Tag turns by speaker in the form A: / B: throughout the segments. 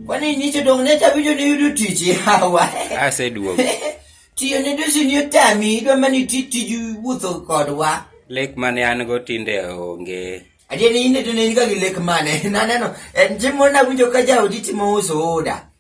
A: Kwani nicho dong ne chabijo ni yudo tich yawa. Aseduogo.
B: Tiyo
A: ne dosi ni otami idwa mani ti tij wuotho kodwa. Lek mane an
B: go tinde onge. Adier ni in to ne
A: in ga gi lek mane. Naneno en chiemo nawinjo ka jaodi timo uso oda.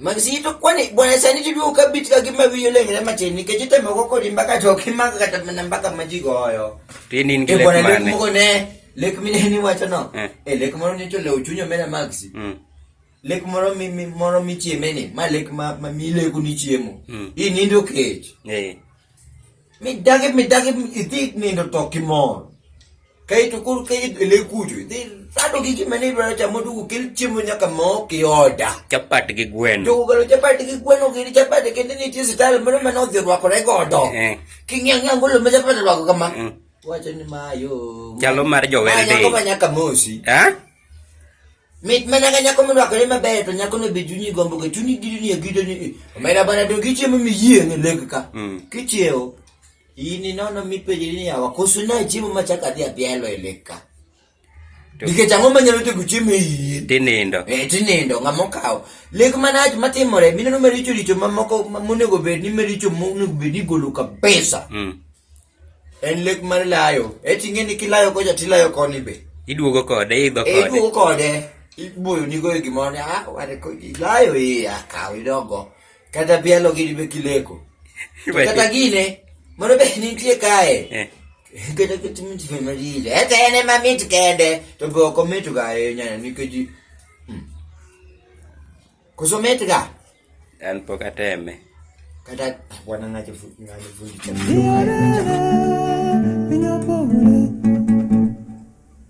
A: Magisito kwani bwana sani tidu ukabiti kakima viyo lengele machini kejite moko kodi mbaka choki maka katamana mbaka majigo hoyo. Tini ngi lek mane. Bwana
B: lek moko ne
A: lek mine ni wacho no. Eh. eh lek moro ni chole uchunyo mena maxi. Mm. Lek moro mi, mi moro mi chiemeni ma lek ma, ma mi leku ni chiemo. Mm. Ini ndo keji. Eh. Midagi, midagi, iti nindo to kimor. Kay to kur kay ile kujo. Iti sado gi kimani dwaro chamo dugu kil chimo nyaka mo ki oda. Chapati gi gweno.
B: Dugu galo chapati gi
A: gweno gi chapati kende ni tisi talo mano mano dhi rwako re godo. Eh. Kingi angi angu lume chapati rwako kama. Mm. Wacho ni mayo. Chalo mar jowere
B: de. Mayo nyaka mosi.
A: Ha? Eh? Mit mana ka nyako morwakore maber to nyako no be chunyi gombo ka chunyi gidi ni agida ni eh, omera bana to kichiemo miyie ni leg ka. Mm. Kichiewo. Ini nono mipenjri ni yawa koso na chiemo machaka dhi apielo e leg ka. Nikech ang'o manyalo tego chiemo e yie? Tinindo. Eh,
B: tinindo ng'ama
A: okawo. Leg manach matimore mineno maricho richo mamoko monego bed ni maricho monego bed ni igolo kabisa. Mm. En lek mar layo. E ting'e ni kilayo kocha tilayo koni be. Iduogo kode, idho
B: E kode. iduogo kode,
A: iboyo nigo e gimoro ni ah ware ko ilayo e akaw idogo. Kata bielo gini be kileko. To Iwe- kata gine, moro be nitie kae. Eh, Kata kata mit be marije. Ete en ema mit kende. To be ok omit ga ahinya nikech Kusometi ka? An pok ateme. Kata bwana ngacho ngani fundi cha.